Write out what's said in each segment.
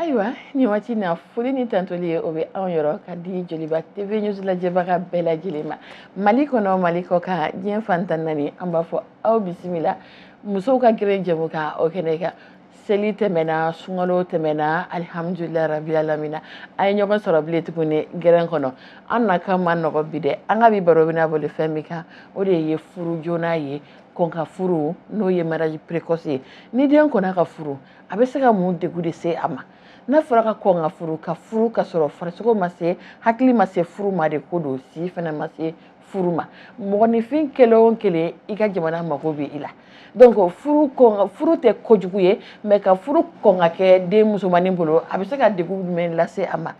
ayiwa ni waati na foli ni tanuli ye o bɛ anw yɔrɔ ka di joliba tv news lajɛbaga bɛɛ lajɛlen ma mali kɔnɔ mali kɔkan diɲɛ fan tan naani an b'a fɔ aw bisimila musow ka gere jɛmukan o kɛnɛ kan seli tɛmɛna sunkalo tɛmɛna alihamudulila rabi alamina an ye ɲɔgɔn sɔrɔ bilen tuguni gere in kɔnɔ an na kan ma nɔgɔ bi dɛ an ka bi baro bɛna boli fɛn min kan o de ye furu joona ye kɔn ka furu n'o ye mariage précoce ye ni den kɔnna ka furu a bɛ se ka mun degun de se a ma n'a fɔra ka kɔn ka furu ka furu ka sɔrɔ farisogo ma se hakili ma se furu ma de ko donc si fana ma se furu ma mɔgɔninfin kelen o kelen i ka jamana mago bɛ i la donc furu tɛ kojugu ye mais ka furu kɔn ka kɛ den musomannin bolo a bɛ se ka degun jumɛn lase a ma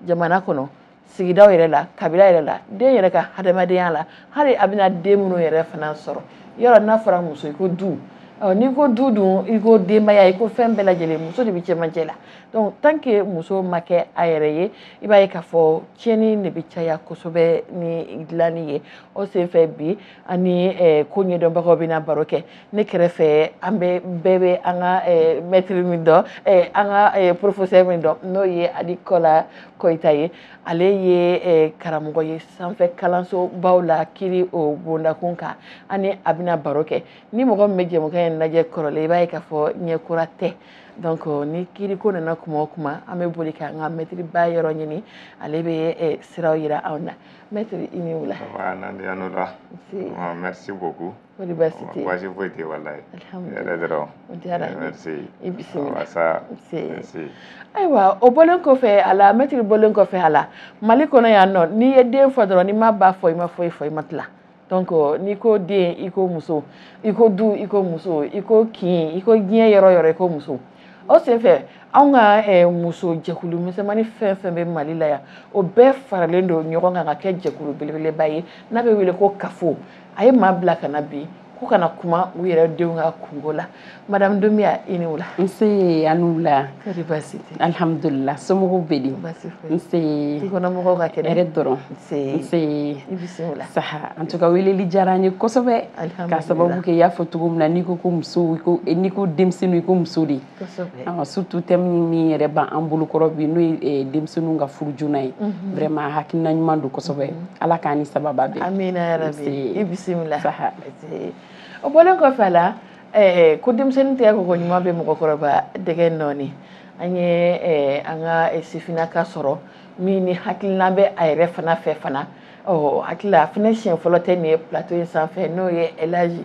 jamana kɔnɔ sigidaw yɛrɛ la kabila yɛrɛ la den yɛrɛ ka hadamadenya la hali a bɛna den minnu yɛrɛ fana sɔrɔ yɔrɔ n'a fɔra muso i ko du n'i ko du dun i ko denbaya i ko fɛn bɛɛ lajɛlen muso de bɛ cɛmancɛ la donc tant que muso ma kɛ a yɛrɛ ye i b'a ye k'a fɔ tiɲɛni de bɛ caya kosɛbɛ ni dilanni ye o senfɛ bi an ni ko ɲɛdɔnbagaw bɛna baro kɛ ne kɛrɛfɛ an bɛ bɛɛ bɛ an ka mɛtiri min dɔn an ka professeur min dɔn n'o ye ali kola koyita ye ale ye karamɔgɔ ye sanfɛ kalansobaw la kiri o bondakun kan ani a bɛna baro kɛ ni mɔgɔ min bɛ jɛmukan in lajɛ kɔrɔlen i b'a ye k'a fɔ ɲɛkura tɛ donc ni kiriko nana kuma o kuma an bɛ boli k'an ka mɛtiri ba yɔrɔ ɲini ale bɛ siraw yira anw na mɛtiri i ni wula merci beaucoup kɔri basi tɛ yen basi foyi tɛ yen walayi hɛrɛ dɔrɔn o diyara n ye i bisimila saha ayiwa o bɔlen kɔfɛ a la mɛtiri bɔlen kɔfɛ a la mali kɔnɔ yan nɔ n'i ye den fɔ dɔrɔn n'i ma ba fɔ i ma foyi fɔ i ma tila donc n'i ko den i ko muso i ko du i ko muso i ko kin i ko diɲɛ yɔrɔ yɔrɔ i ko muso o senfɛ anw ka eh, muso jɛkulu misɛnmannin fɛn fɛn bɛ mali la yan o bɛɛ faralen don ɲɔgɔn kan ka kɛ jɛkulu belebeleba ye n'a bɛ wele ko CAFO a ye maa bila ka na bi k'u ka na kuma u yɛrɛ denw ka kunko la madame Doumbia i ni wula nse a ni wula kɔri baasi tɛ alihamudulila somɔgɔw bɛ di baasi foyi nse du kɔnɔ mɔgɔw ka kɛnɛ hɛrɛ dɔrɔn nse nse i bisimila saha en tout cas weleli diyara an ye kosɛbɛ k'a sababu kɛ i y'a fɔ cogo min na n'i ko ko muso n'i ko denmisɛnninw i ko muso de surtout thème min yɛrɛ b'an bolokɔrɔ bi n'o ye eh, denmisɛnninw ka furu joona ye mhm. vraiment hakilina ɲuman don kosɛbɛ mhm. ala k'an ni sababa bɛn amina yarabi i bisimila o bɔlen kɔfɛ a la eh, ko denmisɛnnin tɛgɛ koko ɲuman bɛ mɔgɔkɔrɔba dɛgɛ nɔɔni an ye eh, an ka sifinnaka sɔrɔ min ni hakilina bɛ a yɛrɛ fana fɛ fana n hakili la a fana siɲɛ fɔlɔ tɛ nin ye plateau in sanfɛ n'o ye elaji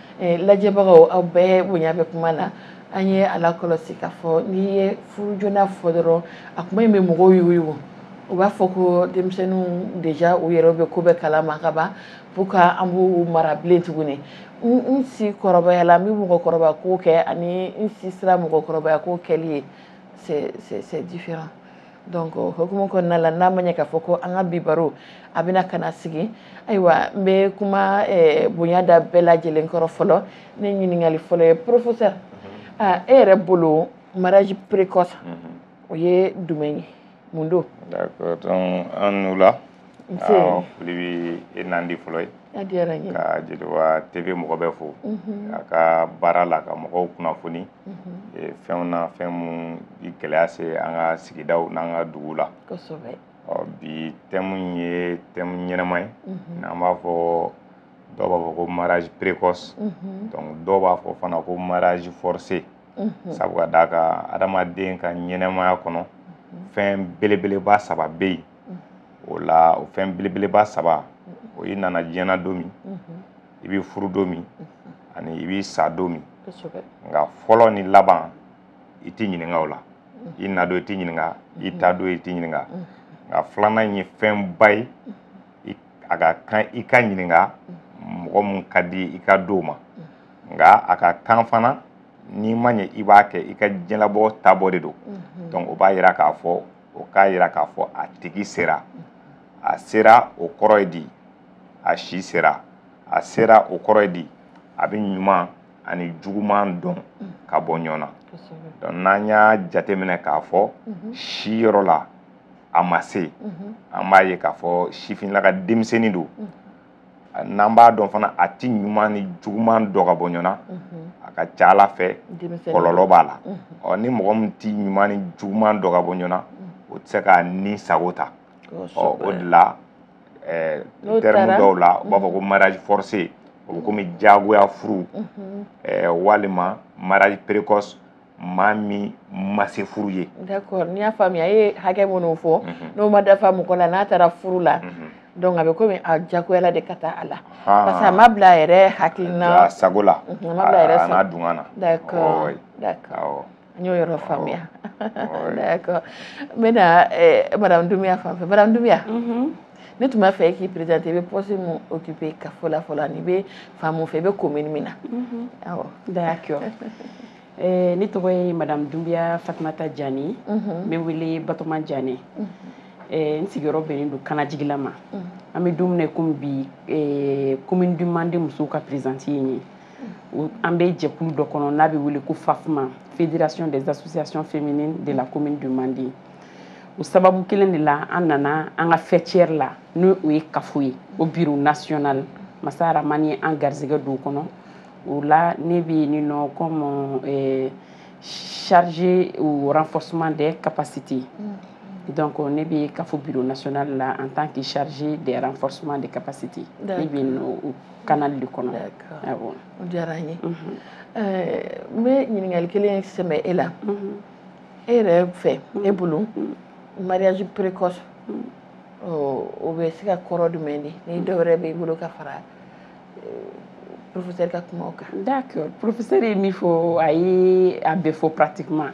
Eh, lajɛbagaw aw bɛɛ bonya bɛ kuma na an y'a lakɔlɔsi k'a fɔ n'i ye furu joona fɔ dɔrɔn a kuma in bɛ mɔgɔw yugu u b'a fɔ ko denmisɛnninw déjà u yɛrɛ bɛ ko bɛɛ kalama ka ban pour que an b'u mara bilen tuguni n si kɔrɔbayala n bɛ mɔgɔkɔrɔba ko kɛ ani n si sera mɔgɔkɔrɔbaya ko kɛli ye c'est différent donc hukumu kɔnɔna la n'a ma ɲɛ k'a fɔ ko an ka bi baro a bɛna ka na sigi ayiwa n bɛ kuma eh, bonya da bɛɛ lajɛlen kɔrɔ fɔlɔ ne ɲininkali fɔlɔ ye professeur mhm. ah, e yɛrɛ bolo mariage précoce mhm. o ye jumɛn ye mun don d'accord donc aw ni wula awɔ foli bɛ e nandi fɔlɔ ye a diyara n ye ka Joliba TV mɔgɔ bɛɛ fo mhm. a ka baara la ka mɔgɔw kunnafoni mhm. fɛnw na fɛn minnu bi gɛlɛya se an ka sigidaw n'an ka dugu la ɔ bi thème in ye thème ɲɛnama ye mhm. n'an b'a fɔ dɔw b'a fɔ ko mariage précoce mhm. donc dɔw b'a fɔ fana ko mariage forcé sabu ka d'a kan adamaden ka ɲɛnamaya kɔnɔ fɛn belebeleba saba bɛ yen o la o fɛn belebeleba saba o y'i nana diɲɛ na don min i bɛ furu don min ani i bɛ sa don min nka fɔlɔ ni laban i tɛ ɲininka o la i na don i tɛ ɲininka i taa don i tɛ ɲininka nka filanan in ye fɛnba ye a ka kan i ka ɲininka mɔgɔ min ka di i ka d'o ma nka a ka kan fana n'i ma ɲɛ i b'a kɛ i ka diɲɛlabɔ taabɔ de don donc o b'a yira k'a fɔ o k'a yira k'a fɔ a tigi sera a sera o kɔrɔ ye di a si sera a sera o kɔrɔ ye di a bɛ ɲuman ani juguman dɔn mm. ka bɔ ɲɔgɔn na donc n'an y'a jateminɛ k'a fɔ mm-hmm. si yɔrɔ la a ma se mm-hmm. an b'a ye k'a fɔ sifinlaka denmisɛnnin don mm-hmm. n'an b'a dɔn fana a ti ɲuman ni juguman dɔn ka bɔ ɲɔgɔn na a ka c'a la fɛ kɔlɔlɔ b'a la ɔ ni mɔgɔ min ti ɲuman ni juguman dɔn ka bɔ ɲɔgɔn na o tɛ se k'a ni sago ta ɔ o de la eh, N'o terme taara. dɔw la u b'a fɔ ko mariage forcé o bɛ komi jagoya furu Mhm. eh, walima mariage précoce maa min ma se furu ye d'accord n'i y'a faamuya e ye hakɛ minnu fɔ Mhm. n'o ma dafa mɔgɔ la n'a taara furu la Mhm. donc a bɛ komi a jagoyala de ka taa a la Ah. parce que a ma bila a yɛrɛ hakilina a sago la Mhm, a ma bila a yɛrɛ a n'a sago. dungɔ na d'accord Ɔɔ, d'accord awɔ. An y'o yɔrɔ faamuya d'accord n bɛna eh, madame Doumbia fan fɛ madame Doumbia mhm. ne tun b'a fɛ e k'i présenter i bɛ poste min occuper CAFO la fɔlɔ ani i bɛ fan mun fɛ i bɛ commune min na mhm. awɔ d'accord eh, ne tɔgɔ ye madame Doumbia Fatumata Jani mhm. n bɛ wele Batoma Jani eh, n sigiyɔrɔ bɛnnen don Kanajigila ma an bɛ don min na i komi bi commune du Mande musow ka présidente ye n ye an bɛ jɛkulu dɔ kɔnɔ n'a bɛ wele ko FAFMA Fédération des associations féminines de la commune du Mandé o sababu kelen de la an nana an ka faîtière la n'o ye CAFO ye o bureau national masa Aramani ye an garisɛgɛ don o kɔnɔ o la ne bɛ yen nɔ comme eh, chargé au renforcement des capacités mm. donc ne bɛ CAFO bureau national la en tant que chargé des renforcement des capacités ne bɛ yen nɔ canal de kɔnɔ o diyara an ye n bɛ ɲininkali kelen sɛmɛ e la e yɛrɛ fɛ e bolo mariage précoce o bɛ se ka kɔrɔ jumɛn di ni dɔ wɛrɛ b'i bolo ka fara professeur ka kumaw kan d'accord professeur ye min fɔ a ye a bɛɛ fɔ pratiquement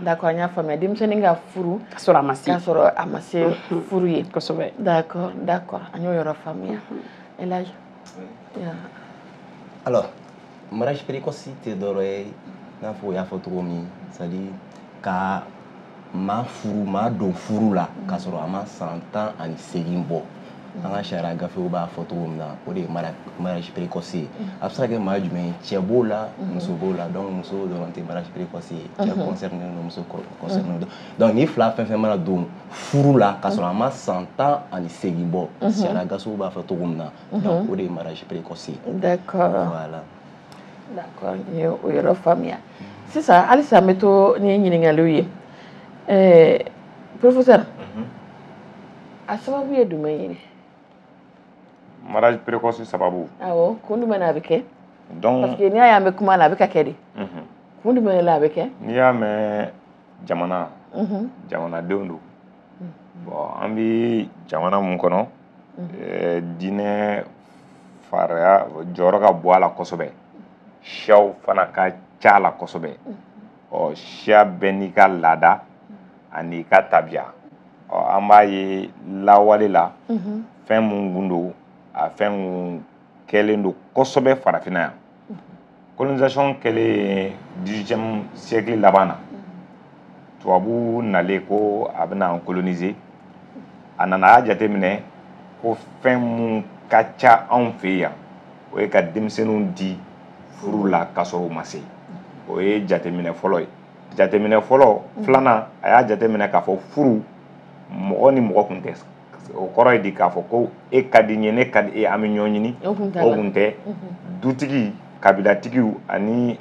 d'accord an y'a faamuya denmisɛnnin ka furu ka sɔrɔ a ma se furu ye kosɛbɛ d'accord d'accord an y'o yɔrɔ faamuya Elhadji alors mariage précoce tɛ dɔwɛrɛ ye i n'a fɔ o y'a fɔ cogo min c'est à dire ka maa furu maa don furu la k'a sɔrɔ a ma san tan ani segin bɔ an ka sariya gafew b'a fɔ cogo min na o de ye mariage précoce ye a bɛ se ka kɛ maa jumɛn ye cɛ b'o la muso b'o la donc muso dɔrɔn tɛ mariage précoce ye cɛ concerné don muso concerné don donc nin fila fɛn fɛn mana don furu la k'a sɔrɔ a ma san tan ani segin bɔ sariya gafew b'a fɔ cogo min na donc o de ye mariage précoce ye d'accord voilà yɔrɔ faamuya sisan halisa n bɛ to ni ɲininkaliw ye professeur mhm. a sababu ye jumɛn ye mariage précoce sababu kun jumɛn na a bɛ kɛ parce que n'i y'a ye an bɛ kuma na a bɛ ka kɛ de mhm. kun jumɛn la a bɛ kɛ n'i y'a mɛn jamana mhm. jamanadenw don bon an bɛ jamana min kɔnɔ eh, diinɛ faraya jɔyɔrɔ ka bon a la kosɛbɛ siyaw fana ka ca a la kosɛbɛ ɔ siya bɛɛ n'i ka laada an'i ka tabiya ɔ an b'a ye lawale la fɛn mun kun don a fɛn kun kɛlen don kosɛbɛ farafinna yan colonisation kɛlen 18e siècle laban na tubabu nalen ko a bɛna an coloniser a nana a y'a jateminɛ ko fɛn mun ka ca anw fɛ yan o ye ka denmisɛnninw di furu la k'a sɔrɔ u ma se o ye jateminɛ fɔlɔ ye jateminɛ fɔlɔ filanan a y'a jateminɛ k'a fɔ furu mɔgɔ ni mɔgɔ tun tɛ o kɔrɔ ye di k'a fɔ ko e ka di n ye ne ka di e an bɛ ɲɔgɔn ɲini o kun tɛ dutigi kabilatigiw ani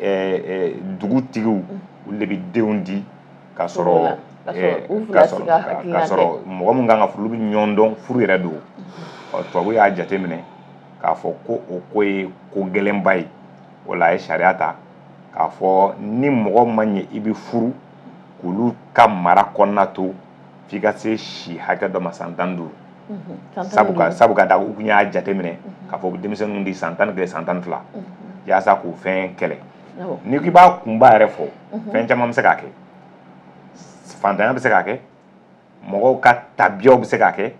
dugutigiw olu de bɛ denw di ka sɔrɔ ka sɔrɔ mɔgɔ min kan ka furu olu bɛ ɲɔgɔn dɔn furu yɛrɛ don ɔ tubabu y'a jateminɛ k'a fɔ ko o ko ye ko gɛlɛnba ye o la a ye sariya ta k'a fɔ ni mɔgɔ ma ɲɛ i bɛ furu k'olu ka mara kɔnɔna to f'i ka se si hakɛ dɔ ma san tan duuru sabu ka sabu ka da u kun y'a jateminɛ k'a fɔ denmisɛnninw di san tan ni kelen san tan ni fila yaasa k'o fɛn kɛlɛ n'i k'i b'a kunba yɛrɛ fɔ fɛn caman bɛ se k'a kɛ fantanya bɛ se k'a kɛ mɔgɔw ka tabiyaw bɛ se k'a kɛ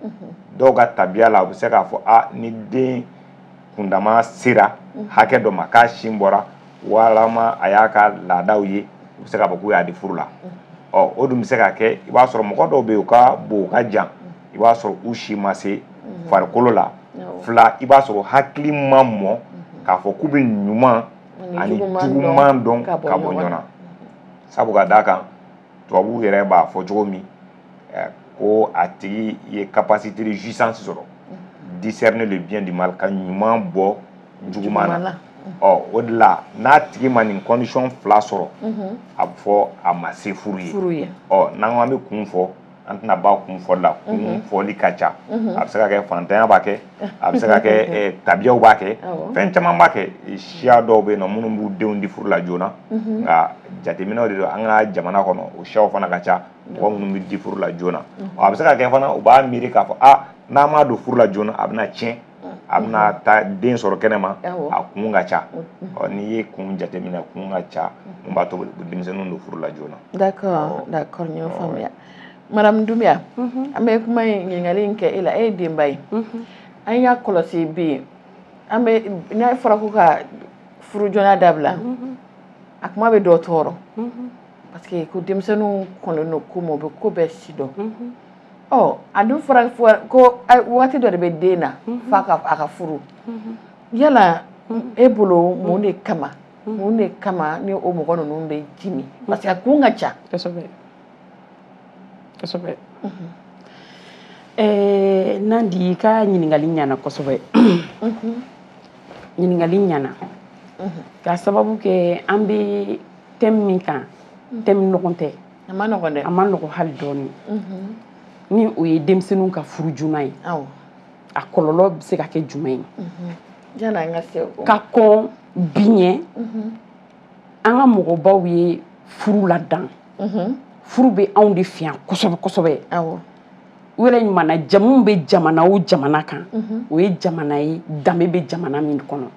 dɔw ka tabiya la u bɛ se k'a fɔ a ni den kundama sera hakɛ dɔ ma k'a sin bɔra walama a y'a ka laadaw ye u bɛ se k'a fɔ k'u y'a di furu la ɔ o dun bɛ se ka kɛ i b'a sɔrɔ mɔgɔ dɔw bɛ yen u ka bon u ka jan i b'a sɔrɔ u si ma se farikolo la fila i b'a sɔrɔ u hakili ma mɔ k'a fɔ k'u bɛ ɲuman ani juguman dɔn ka bɔ ɲɔgɔn na sabu ka d'a kan tubabuw yɛrɛ b'a fɔ cogo min eh, ko a tigi ye capacité de jouissance sɔrɔ mm-hmm. discerner le bien du mal ka ɲuman bɔ juguman na ɔ o de la n'a tigi ma nin condition fila sɔrɔ mm-hmm. a bɛ fɔ a ma se furu ye ɔ n'an ko an bɛ kun fɔ an tɛna ban kun fɔli la kun mhm. fɔli ka ca mhm. a bɛ se ka kɛ fantanya b'a kɛ a bɛ se ka kɛ mhm. eh, tabiyaw b'a kɛ fɛn caman b'a kɛ siya dɔw bɛ yen nɔ minnu b'u denw di furu la joona nka jateminɛw de don an ka jamana kɔnɔ o siyaw fana ka ca mɔgɔ minnu bɛ di furu la joona a bɛ se ka kɛ fana u b'a miiri k'a fɔ a ah, n'an m'a don furu la joona a bɛna tiɲɛ a bɛna taa den sɔrɔ kɛnɛma a kun ka ca ɔ n'i ye kun jateminɛ kun ka ca mun b'a to denmisɛnninw don furu la joona d'accord d'accord n y'o faamuya madame Doumbia an bɛ kuma in ɲininkali in kɛ e la e ye denba ye an y'a kɔlɔsi bi yen an bɛ n'a fɔra ko ka furu joona dabila a kuma bɛ dɔ tɔɔrɔ parce que ko denmisɛnninw kɔnnen don ko ma u bɛ ko bɛɛ sidɔn ɔ a dun fɔra ko waati dɔ de bɛ den na mhm. f'a ka a ka furu mhm. yala e bolo mun de kama mhm. mun de kama ni o mɔgɔ ninnu bɛ jimi parce que a kun ka ca kosɛbɛ kosɛbɛ ɛɛ Nandi i ka ɲininkali ɲana kosɛbɛ ɲininkali ɲana k'a sababu kɛ an bɛ thème min kan thème nɔgɔn tɛ a ma nɔgɔn dɛ a ma nɔgɔn hali dɔɔnin ni o ye denmisɛnninw ka furu joona ye a kɔlɔlɔ bɛ se ka kɛ jumɛn ye yanni an ka se ka kɔn bi ɲɛ an ka mɔgɔbaw ye furu ladan furu bɛ anw de fɛ yan kosɛbɛ kosɛbɛ u yɛrɛ ɲuman na jamu bɛ jamana o jamana kan o ye jamana ye danbe bɛ jamana min kɔnɔ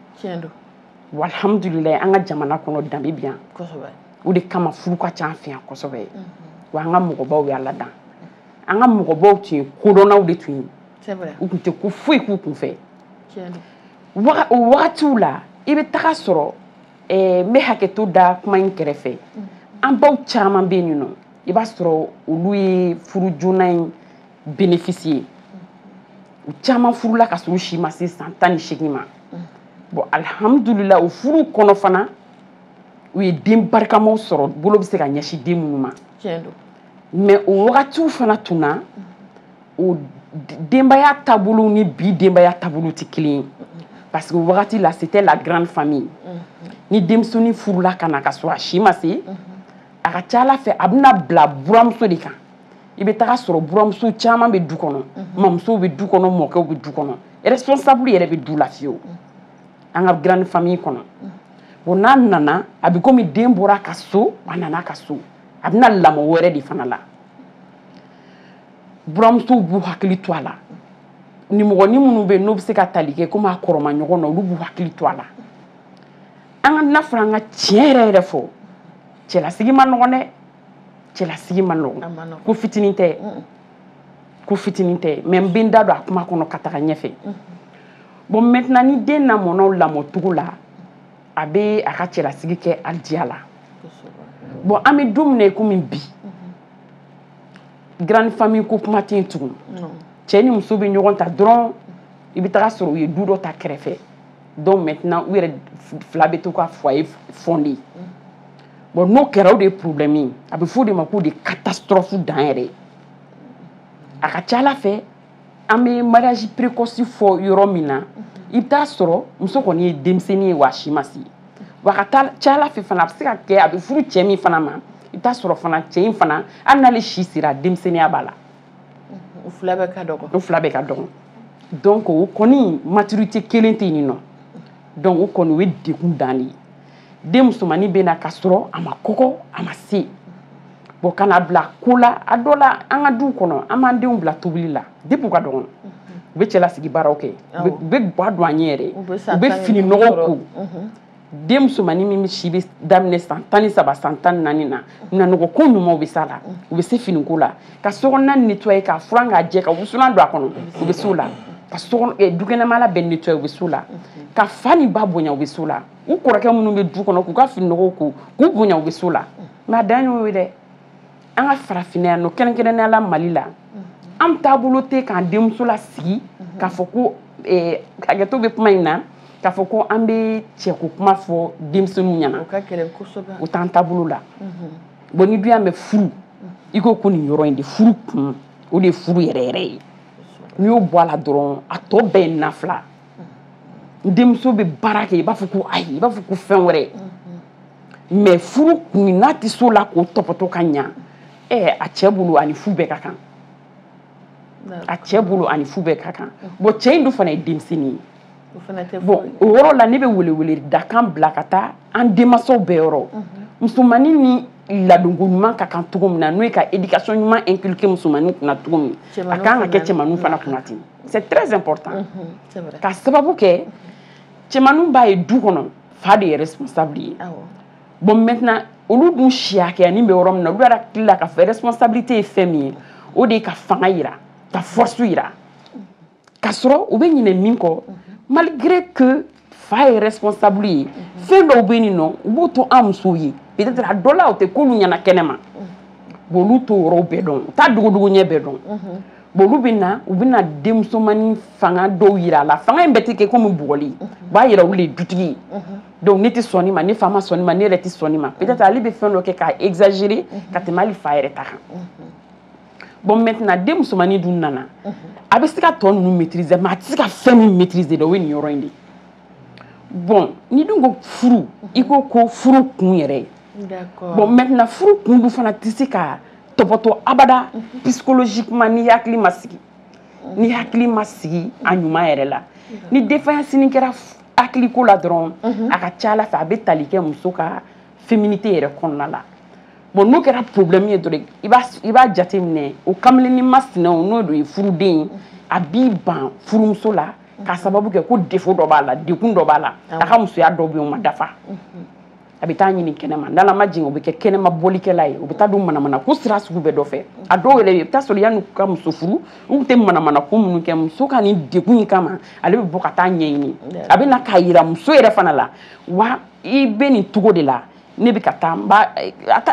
walhamdulillah an ka jamana kɔnɔ danbe bi yan kosɛbɛ o de kama furu ka ca an fɛ yan kosɛbɛ mhm. wa an ka mɔgɔbaw y'a ladan an ka mɔgɔbaw tun ye kodɔnnaw de tun ye u tun tɛ ko foyi k'u kun fɛ o wagatiw la i bɛ taga sɔrɔ eh, n bɛ hakɛto da kuma in kɛrɛfɛ mhm. an baw caman bɛ yen nɔ i b'a sɔrɔ olu ye furu joona in bénéficier u caman furula ka sɔrɔ u si ma se san tan ni seegin ma bon alihamudulila o furu kɔnɔ fana u ye den barikamaw sɔrɔ bolo bɛ se ka ɲɛsin den minnu ma mais o wagatiw fana tun na o denbaya taabolo ni bi denbaya taabolo tɛ kelen ye parce que wagati la c'était la grande famille mm-hmm. ni denmisɛnnin furula ka na ka sɔrɔ a si ma se mm-hmm. a ka ca a la fɛ a bɛna bila buramuso de kan i bɛ taga sɔrɔ buramuso caman bɛ du kɔnɔ mamusow bɛ du kɔnɔ mɔkɛw bɛ du kɔnɔ responsable yɛrɛ bɛ du la fiyewu an ka grande famille kɔnɔ bon n'a nana a bɛ komi den bɔra a ka so a nana a ka so a bɛna lamɔ wɛrɛ de fana la buramusow b'u hakili to a la nimɔgɔnin minnu bɛ yen n'u bɛ se ka tali kɛ komi a kɔrɔma ɲɔgɔn na olu b'u hakili to a la an ka n'a fɔra an ka tiɲɛ yɛrɛ yɛrɛ fɔ cɛlasigi ma nɔgɔn dɛ cɛlasigi ma nɔgɔn ko fitinin tɛ ko fitinin tɛ mais n bɛ n da don a kuma kɔnɔ ka taga ɲɛfɛ bon maintenant ni den lamɔna o lamɔcogo la a bɛ a ka cɛlasigi kɛ a diya la bon an bɛ don min na komi bi grande famille ko kuma tɛ tugun cɛ ni muso bɛ ɲɔgɔn ta dɔrɔn i bɛ taga sɔrɔ u ye du dɔ ta kɛrɛfɛ donc maintenant u yɛrɛ fila bɛ to ka foyer fonder bon n'o kɛra o de ye problème ye a bɛ f'o de ma k'o de ye catastrophe dan yɛrɛ ye a ka ca a la fɛ an bɛ mariage précoce fɔ yɔrɔ min na i bɛ taa sɔrɔ muso kɔni ye denmisɛnnin ye wa a si ma se wa ka taa ca a la fɛ fana a bɛ se ka kɛ a bɛ furu cɛ min fana ma i bɛ taa sɔrɔ fana cɛ in fana hali n'ale si sera denmisɛnninya b'a la u fila bɛɛ ka dɔgɔn u fila bɛɛ ka dɔgɔn donc o kɔni maturité kelen tɛ yen nɔ donc o kɔni o ye degun dan de ye den musomannin bɛ na ka sɔrɔ a ma kɔgɔ a ma se bon kana bila ko la a dɔ la an ka du kɔnɔ an b'an denw bila tobili la depuis u ka dɔgɔn u bɛ cɛlasigi baaraw kɛ u bɛ ga don an ɲɛ yɛrɛ u bɛ fini nɔgɔ ko den musomannin min si bɛ daminɛ san tan ni saba san tan naani na nanɔgɔ ko ɲumanw bɛ s'a la u bɛ se finiko la ka so nettoyer ka furan k'a jɛ ka wusulan don a kɔnɔ u bɛ s'o la ka dukɛnɛmala bɛɛ nettoyer u bɛ s'o la ka fa ni ba bonya u bɛ s'o la u kɔrɔkɛ minnu bɛ du kɔnɔ k'u ka fini nɔgɔw ko k'u bonya u bɛ s'o la mais a dan y'o ye dɛ an ka farafinya nɔ kɛrɛnkɛrɛnnenya la mali la an taabolo tɛ k'an denmuso lasigi k'a fɔ ko eh, hakɛto bɛ kuma in na k'a fɔ ko an bɛ cɛko kuma fɔ denmisɛnninw ɲɛna o t'an taabolo la bon ni dun y'a mɛn furu i ko ko nin yɔrɔ in de furu kun o de ye furu yɛrɛ yɛrɛ ye n'i y'o bɔ a la dɔrɔn a tɔ bɛɛ ye nafila n denmuso bɛ baara kɛ i b'a fɔ ko ayi i b'a fɔ ko fɛn wɛrɛ mais furu kun n'a tɛ s'o la k'o tɔpɔtɔ ka ɲa ɛɛ a cɛ bolo ani fu bɛɛ ka kan a cɛ bolo ani fu bɛɛ ka kan bon cɛ in dun fana ye denmisɛnnin ye bon o yɔrɔ la ne bɛ welewele dakan bila ka taa an denmansaw bɛɛ yɔrɔ musomannin ni ladonko ɲuman ka kan cogo min na n'o ye ka éducation ɲuman inculquer musomannin kunna cogo min a ka kan ka kɛ cɛmanninw fana kunna ten c'est très important mhm, ka sababu kɛ cɛmanninw b'a ye du kɔnɔ fa de ye responsable ye bon maintenant olu dun si hakɛya ni bɛ yɔrɔ min na olu yɛrɛ hakili la k'a fɔ responsabilité ye fɛn min ye o de ye ka fanga yira ka force yira ka sɔrɔ u bɛ ɲinɛ min kɔ malgré que fa ye responsable ye fɛn dɔw bɛ nin nɔ u b'u to an musow ye peut-être a dɔ la o tɛ k'olu ɲɛna kɛnɛma bon olu t'o yɔrɔw bɛɛ dɔn u t'a dogodogo ɲɛ bɛɛ dɔn bon olu bɛ na u bɛ na denmusomanin fanga dɔw yira a la fanga in bɛɛ tɛ kɛ komi bugɔli u b'a yira olu de ye dutigi ye donc ne tɛ sɔn nin ma ne fa ma sɔn nin ma ne yɛrɛ tɛ sɔn nin ma peut-être ale bɛ fɛn dɔ kɛ k'a exagérer ka tɛmɛ hali fa yɛrɛ ta kan. bon maintenant den musomannin dun nana mhm. a bɛ se ka tɔ ninnu maîtriser mais a tɛ se ka fɛn min maîtriser dɛ o ye nin yɔrɔ in de ye bon ni dun ko furu mhm. i ko ko furu kun yɛrɛ ye bon maintenant furu kun dun fana tɛ se ka tɔpɔtɔ abada mhm. psychologiquement ni hakili ma sigi ni hakili ma sigi a ɲuman yɛrɛ la ni défaillance kɛra hakiliko la dɔrɔn a ka ca ala fɛ a bɛ tali kɛ muso ka féminité yɛrɛ kɔnɔna la bon n'o kɛra problème ye dɔrɔn i b'a i b'a jateminɛ o kamalennin masinɛw n'o de ye furuden ye a b'i ban furumuso la k'a sababu kɛ ko défaut dɔ b'a la dekun dɔ b'a la a ka musoya dɔ bɛ yen o ma dafa a bɛ taa ɲini kɛnɛma n'ala ma jigin o bɛ kɛ kɛnɛma bɔlikɛla ye o bɛ taa don manamana ko sira sugu bɛɛ dɔ fɛ a dɔw yɛrɛ i bɛ taa sɔrɔ yann'u ka muso furu u tun tɛ manamana ko minnu kɛ muso ka nin dekun in kama ale bɛ bɔ ka taa ɲɛɲini a bɛ na k'a yira muso yɛrɛ fana la wa i bɛ nin cogo de la ne bɛ ka taa n b'a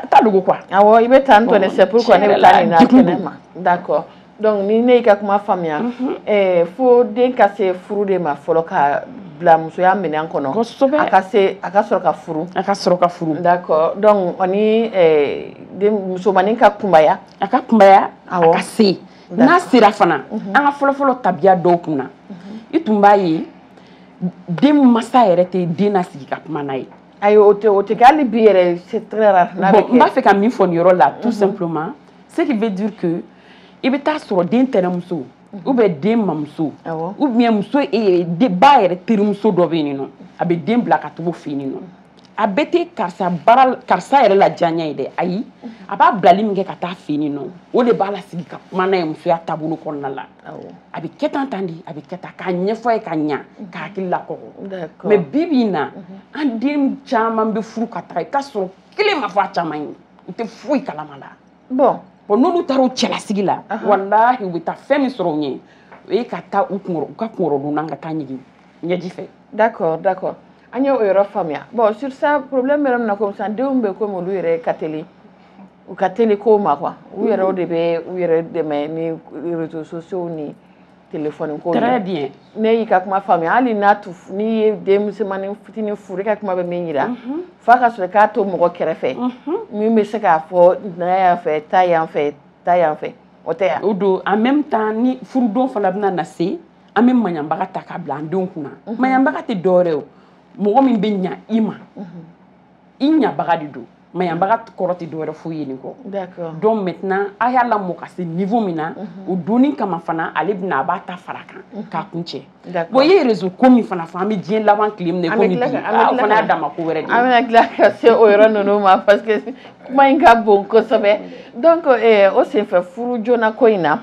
ta dogo quoi. awɔ i bɛ tan tɔ ne c'est pourquoi ne bɛ taa nin na kɛnɛ ma d'accord donc ni ne y'i ka kuma faamuya mhm. eh, fo den ka se furu de ma fɔlɔ ka bila musoya minɛn kɔnɔ kosɛbɛ a ka se a ka sɔrɔ ka furu a ka sɔrɔ ka furu d'accord donc o ni eh, den musomanin ka kunbaya a ka kunbaya awɔ a ka se n'a sera fana mhm. an ka fɔlɔfɔlɔ tabiya dɔw kunna mhm. i tun b'a ye den masa yɛrɛ tɛ den lasigi ka kuma n'a ye ayi o tɛ o tɛ kɛ hali bi yɛrɛ c'est très rare n'a bɛ kɛ bon n b'a fɛ ka min fɔ nin yɔrɔ la tout mhm. simplement ce qui veut dire que i bɛ taa sɔrɔ den tɛnɛmuso mhm. ou bien den mamuso ou bien muso e yɛrɛ ba yɛrɛ terimuso dɔ bɛ yen nɔ a bɛ den bila ka taga o fɛ yen nɔ a bɛɛ tɛ karisa baara karisa yɛrɛ la diyaɲa ye dɛ ayi a b'a bilali min kɛ ka taa fɛ yen nɔ o de b'a lasigi ka kuma n'a ye musoya taabolo kɔnɔna la a bɛ kɛ tan tan de a bɛ kɛ tan k'a ɲɛfɔ a ye ka ɲa k'a hakili lakɔgɔ mais bi bi in na an den caman bɛ furu ka taa i k'a sɔrɔ kelen ma fɔ a caman ye u tɛ foyi kalama la bon bon n'olu taara u cɛlasigi la walahi u bɛ taa fɛn min sɔrɔ u ɲɛ o ye ka taa u kunkɔrɔ u ka kunkɔrɔdonnan ka taa ɲigin ɲɛji fɛ d'accord d'accord an y'o yɔrɔ faamuya bon sur ça problème yɛrɛ min na komi sisan denw bɛ komi olu yɛrɛ ka teli u ka teli kow ma quoi u yɛrɛw de bɛ u yɛrɛ dɛmɛ ni réseaux sociaux ni téléphone ko très bien ne y'i ka kuma faamuya hali n'a tu n'i ye den musomanin fitinin furu e ka kuma bɛ min yira mhm. f'a ka sɔrɔ k'a to mɔgɔ kɛrɛfɛ mhm. min bɛ se k'a fɔ na yan fɛ taa yan fɛ taa yan fɛ o tɛ yan o don en même temps ni furudon fana bɛna na se an bɛ maɲanbaga ta k'a bila an denw kunna mhm. maɲanbaga tɛ dɔwɛrɛ o mɔgɔ min bɛ ɲa i ma mhm. i ɲabaga de don maɲanbaga kɔrɔ tɛ dɔwɛrɛ foyi ye nin kɔ donc maintenant a y'a lamɔ ka se niveau min na mhm. o donni kama fana ale bɛna a b'a ta fara kan k'a kuncɛ bon i ye réseau ko min fana fɔ an bɛ diɲɛ laban tile min na komi bi ah, o fana y'a dama ko wɛrɛ de ye an bɛna tila ka se o yɔrɔ ninnu ma parce que kuma in ka bon kosɛbɛ donc eh, o senfɛ furu joona ko in na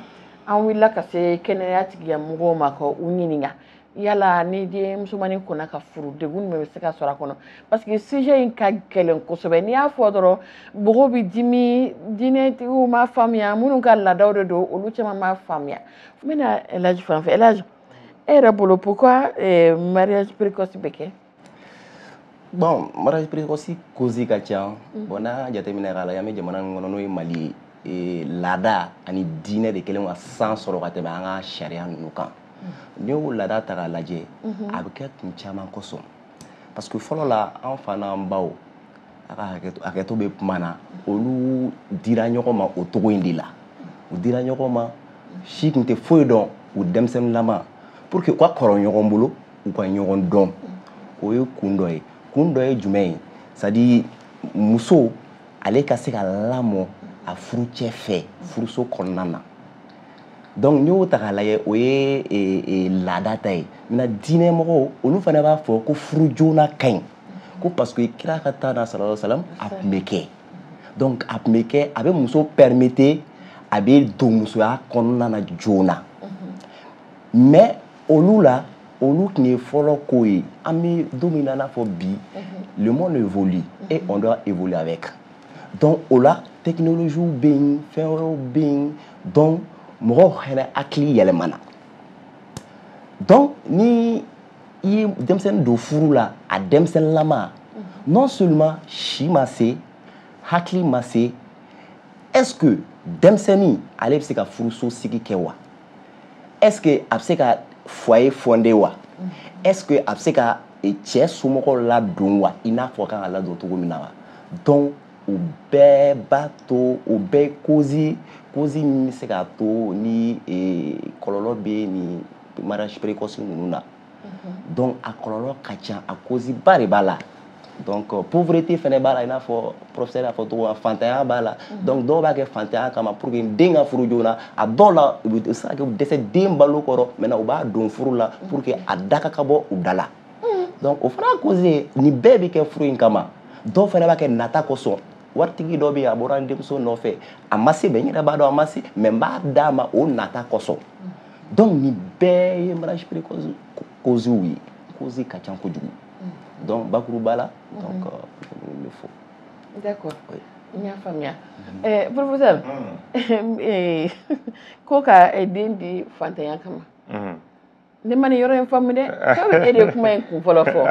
an wulila ka se kɛnɛya tigilamɔgɔw ma ka u ɲininka yala ni den musomanin kɔnna ka furu degun jumɛn bɛ se ka sɔrɔ a kɔnɔ parce que sujet in ka gɛlɛn kosɛbɛ n'i y'a fɔ dɔrɔn mɔgɔw bɛ dimi diinɛtigiw m'a faamuya minnu ka laadaw de don olu caman m'a faamuya n bɛna elaji fan fɛ elaji e yɛrɛ bolo pourquoi eh, mariage précoce bɛ kɛ bon mariage précoce cause ka ca mm. bon n'an k'a jateminɛ k'a lajɛ an bɛ jamana min kɔnɔ n'o ye mali ye e, laada ani diinɛ de kɛlen ka sanga sɔrɔ ka tɛmɛ an ka sariya ninnu kan mm. n'i y'o laada ta k'a lajɛ mm-hmm. a bɛ kɛ kun caman kosɔn parce que fɔlɔ la an fa n'an baw a ka hakɛto bɛ kuma na olu dira ɲɔgɔn ma o cogo in de la u dira ɲɔgɔn ma si tun tɛ foyi dɔn u denmisɛnninlama pour que u ka kɔrɔ ɲɔgɔn bolo u ka ɲɔgɔn dɔn o ye kun dɔ ye kun dɔ ye jumɛn ye c'est à dire muso ale ka se ka lamɔ a furucɛ fɛ furuso kɔnɔna na donc n'i y'o ta k'a lajɛ o ye e, e, laada ta ye maintenant diinɛ mɔgɔw olu fana b'a fɔ ko furu joona ka ɲi ko parce que kira ka temps na sallallahu alaihi wasallam a tun bɛ kɛ donc a tun bɛ kɛ a bɛ muso permettre a bɛ don musoya kɔnɔna na joona mhm. mais olu la olu tun ye fɔlɔ ko ye an bɛ don min na i n'a fɔ bi mhm. le monde évolue mhm. et on doit évoluer avec donc o la technologie bɛ yen fɛn wɛrɛw bɛ yen donc mɔgɔw fɛnɛ hakili yɛlɛmana donc ni i ye denmisɛnnin don furu la a denmisɛnninlama non seulement si ma se hakili ma se est ce que denmisɛnnin ale bɛ se ka furuso sigi kɛ wa est ce que a bɛ se ka foyer fonder wa est ce que a bɛ se ka cɛ somɔgɔw ladon wa i n'a fɔ a kan ka ladon cogo min na wa donc o bɛɛ b'a to o bɛɛ ye cause min bɛ se k'a to ni kɔlɔlɔ bɛ nin mariage précoce ninnu na donc a kɔlɔlɔ ka ca a cause ba de b'a la donc euh, pauvreté fɛnɛ b'a la i n'a fɔ professeur y'a fɔ cogo min fantanya b'a la mhm. donc dɔw b'a kɛ fantanya kama pour que den ka furu joona a dɔw la u bɛ se ka kɛ u dɛsɛ den balo kɔrɔ maintenant u b'a don furu la mhm. pour que a da ka bɔ u da la mhm. donc o fana cause ye nin bɛɛ bɛ kɛ furu in kama dɔw fana b'a kɛ nata kosɔn waritigi dɔ bɛ yen a bɔra n denmuso nɔfɛ a ma se mais n yɛrɛ b'a dɔn a ma se mais n b'a d'a ma o nata kosɔn donc nin bɛɛ ye mariage précoce causew ye cause ka ca kojugu mm. donc bakuruba la mm-hmm. donc euh, le fo d'accord oui. n y'a faamuya mm-hmm. eh, professeur mm. eh, ko ka eh, den di fantanya kama mm-hmm. ne ma nin yɔrɔ in faamu dɛ sabu e de ye kuma in kun fɔlɔ fɔ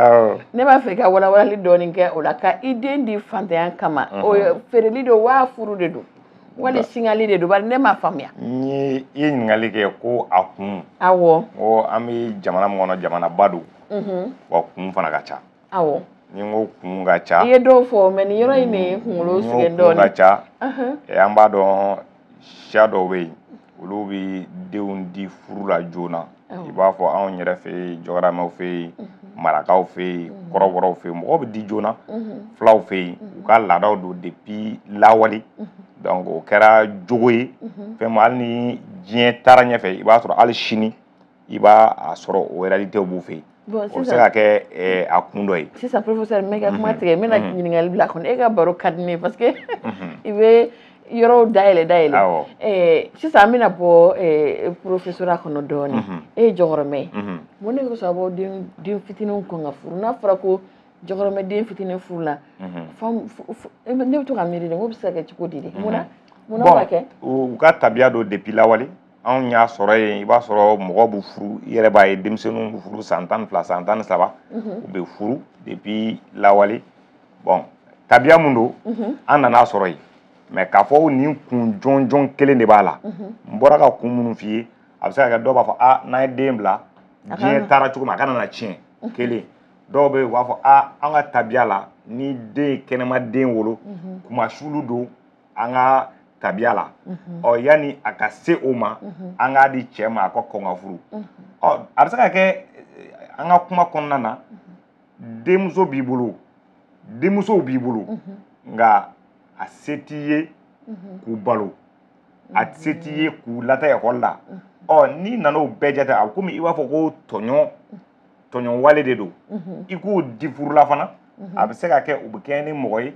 ne b'a fɛ ka walawalali dɔɔnin kɛ o la ka i den di fantanya kama o feereli don wa furu de don wali singali de don bari ne m'a faamuya n ye i ye ɲininkali kɛ ko a kun awɔ ko an bɛ jamana min kɔnɔ jamanaba don mhm. wa kun fana ka ca awɔ ni n ko kun ka ca i ye dɔw fɔ mais nin yɔrɔ in de ye kunkolo sɛgɛn dɔɔnin kun ka ca an b'a dɔn siya dɔw bɛ yen olu bɛ denw di furu la joona i b'a fɔ anw yɛrɛ fɛ yen jɔgɔramaw fɛ yen mhm. marakaw fɛ yen mhm. kɔrɔbɔrɔw fɛ yen mɔgɔw bɛ di joona mhm. fulaw fɛ yen u ka laadaw don depuis lawale donc o kɛra jogo ye fɛn min hali ni diɲɛ taara ɲɛfɛ i b'a sɔrɔ hali sini i b'a sɔrɔ o réalités b'u fɛ yen Bon, o bɛ se ka kɛ eh, a kun dɔ ye sisan professeur n b'i ka kuma mhm. tigɛ n bɛna mhm. ɲininkali bila kɔnɔ e ka baro ka di ne ye parce que mhm. i bɛ yɔrɔw dayɛlɛ dayɛlɛ eh, sisan an bɛna bɔ eh, professeurya kɔnɔ dɔɔnin e ye jɔkɔrɔmɛ ye mun de kosɔn a b'aw den fitininw kɔn ka furu n'a fɔra ko jɔkɔrɔmɛ den fitinin furu la ne bɛ to ka miiri de n k'o bɛ se ka kɛ cogo di de mun na mun na b'a kɛ u ka tabiya don depuis lawale anw y'a sɔrɔ yen i b'a sɔrɔ mɔgɔ bɛ furu i yɛrɛ b'a ye denmisɛnninw bɛ furu san tan ni fila san tan ni saba u bɛ furu depuis lawale bon tabiya mun don an nan'a sɔrɔ yen mais k'a fɔ nin kun jɔnjɔn kelen de b'a la n bɔra ka kun minnu f'i ye a bɛ se ka kɛ dɔw b'a fɔ a n'an ye den bila diɲɛ taara cogo min a kana na tiɲɛ kelen dɔw bɛ yen u b'a fɔ a an ka tabiya la ni den ye kɛnɛma den wolo kunmasuuli don an ka tabiya la ɔ yanni a ka se o ma an k'a di cɛ ma a ka kɔn ka furu ɔ a bɛ se ka kɛ an ka kuma kɔnɔna na denmuso b'i bolo denmusow b'i bolo nka a se t'i ye k'u balo a se t'i ye k'u lataa ekɔli la ɔ n'i nana o bɛɛ jate a komi i b'a fɔ ko tɔɲɔn tɔɲɔn wale de don i k'o di furu la fana a bɛ se ka kɛ u bɛ kɛ ni mɔgɔ ye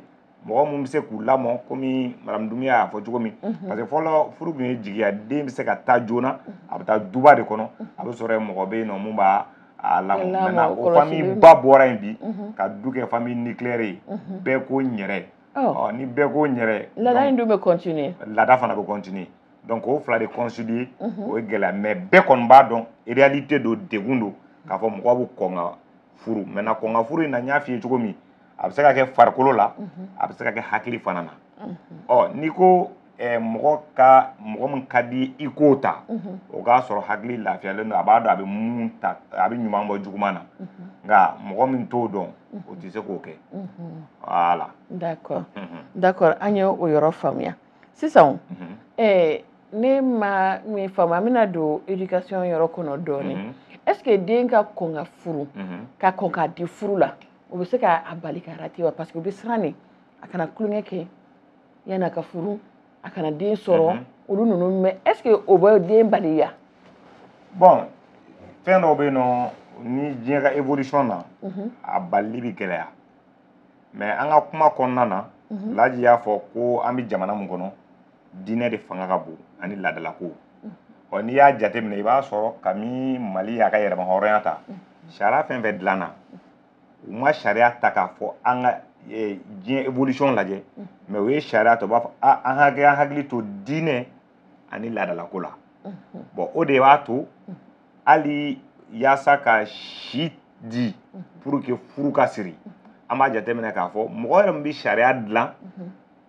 mɔgɔ min bɛ se k'u lamɔ komi madamu dumbiya y'a fɔ cogo min mhm. parce que fɔlɔ furu tun ye jigiya den bɛ se ka taa joona mhm. a bɛ taa duba de kɔnɔ mhm. a bɛ sɔrɔ yen mɔgɔ bɛ yen nɔ mun b'a a lamɔ maintenant o famille ba bɔra yen bi ka du kɛ famille nucléaire ye bɛɛ ko n yɛrɛ oh. ni bɛɛ ko n yɛrɛ laada in dun bɛ continuer laada fana bɛ continuer donc o fila de concilier o ye gɛlɛya mais bɛɛ kɔni b'a dɔn réalité don degun don k'a fɔ mɔgɔ bɛ kɔn ka furu maintenant kɔn ka furu in na n y'a f'i ye cogo min a bɛ se ka kɛ farikolo la a bɛ se ka kɛ hakili fana na ɔ n'i ko eh, mɔgɔ ka mɔgɔ min ka di i k'o ta o k'a sɔrɔ hakili lafiyalen don a b'a dɔn a bɛ mun ta a bɛ ɲuman bɔ juguman na nka mɔgɔ min t'o dɔn o tɛ se k'o kɛ voilà d'accord d'accord an ye o yɔrɔ faamuya sisan eh, ne ma min faamu an bɛna don éducation yɔrɔ kɔnɔ dɔɔnin est ce que den ka kɔn ka furu ka kɔn ka di furu la o bɛ se k'a bali ka rater wa parce que u bɛ siran de a kana tulonkɛ kɛ yanni a ka furu a kana den sɔrɔ mhm. olu ninnu mais est ce que o bɛ den bali wa bon fɛn dɔw bɛ yen nɔ ni diɲɛ ka évolution na mhm. a balili bɛ gɛlɛya mais an ka kuma kɔnɔna na mhm. laji y'a fɔ ko an bɛ jamana min kɔnɔ diinɛ de fanga ka bon ani laadalako ɔ n'i y'a jateminɛ i b'a sɔrɔ kami mali y'a ka yɛrɛmahɔrɔnya ta sariya fɛn fɛn dilanna u ma sariya ta k'a fɔ an ka e, diɲɛ évolution lajɛ mais u ye sariya ta u b'a fɔ a an hakɛ an hakili to diinɛ ani laadalako la bon o de b'a to hali yaasa ka si di pour que furu ka siri an b'a jateminɛ k'a fɔ mɔgɔ yɛrɛ min bɛ sariya dilan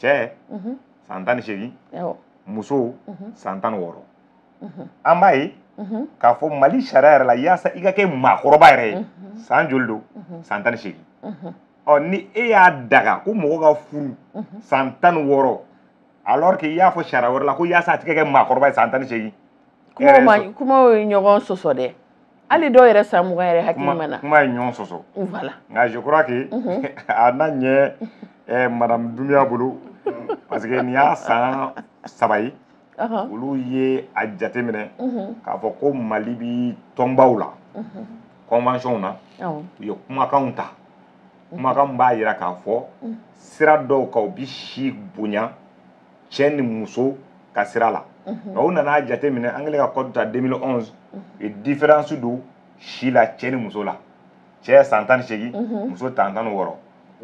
cɛ san tan ni seegin muso san tan ni wɔɔrɔ an b'a ye k'a fɔ mali sariya yɛrɛ la yaasa i ka kɛ maakɔrɔba yɛrɛ ye san joli don san tan ni seegin ɔ ni e y'a daga ko mɔgɔ ka furu san tan ni wɔɔrɔ alors que i y'a fɔ sariya wɛrɛ la ko yaasa a tɛ kɛ maakɔrɔba ye san tan ni seegin kumaw ye ɲɔgɔn sɔsɔ dɛ hali dɔw yɛrɛ san mugan yɛrɛ hakili ma na kuma ye ɲɔgɔn sɔsɔ voilà nka je crois que a na ɲɛ eh, madame Doumbia bolo parce que nin y'a san saba ye olu ye a jateminɛ k'a fɔ ko mali bi tɔnbaw la convention na u ye kumakanw ta kumakan b'a yira k'a fɔ sira dɔw kan u bi si bonya cɛ ni muso ka sira la nka u nana jateminɛ an kɛlen ka code ta 2011 u ye différence don si la cɛ ni muso la cɛ san tan ni seegin muso ta tan ni wɔɔrɔ